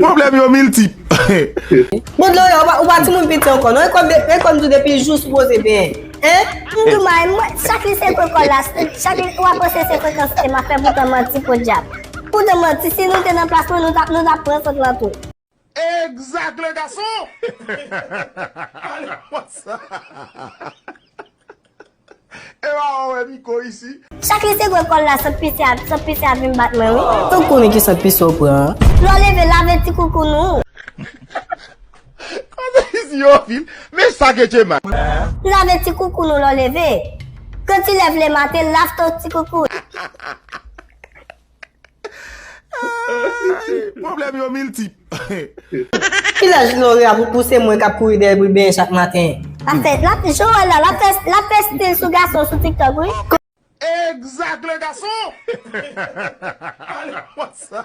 Pwoblèm yo miltip. Bon dlo yo ou pa timoun piti ankò non e kòm tou depi jou sou poze benyen hein. Indou may mwen chak li sekwe kòl la chak li wap panse se frekans ema fè poutan manti podyab poutan manti si nou te nan plas mwen nou tap pran sant lan tou. Exact le gason Alon wont sa Ewa ou we miko isi. Chak li se gwe kol la sant pise a sant pise a vin bat mwen wi. Tanw konnen ki sant pise ou pran an. Lè w leve lave ti koukoun ou. Koze isi yo anpil men sa gen tchema. Lave ti koukoun ou lè w leve. Gen ti lèv le maten lave ton ti koukoun. Pwoblèm yo miltip. Ki lè Jlori ap repouse mwen kap kouri dèyè bri benyen chak maten. Joel la lap fè stil sou gason sou tiktok wi. Egzak le gason! Pale mwa sa.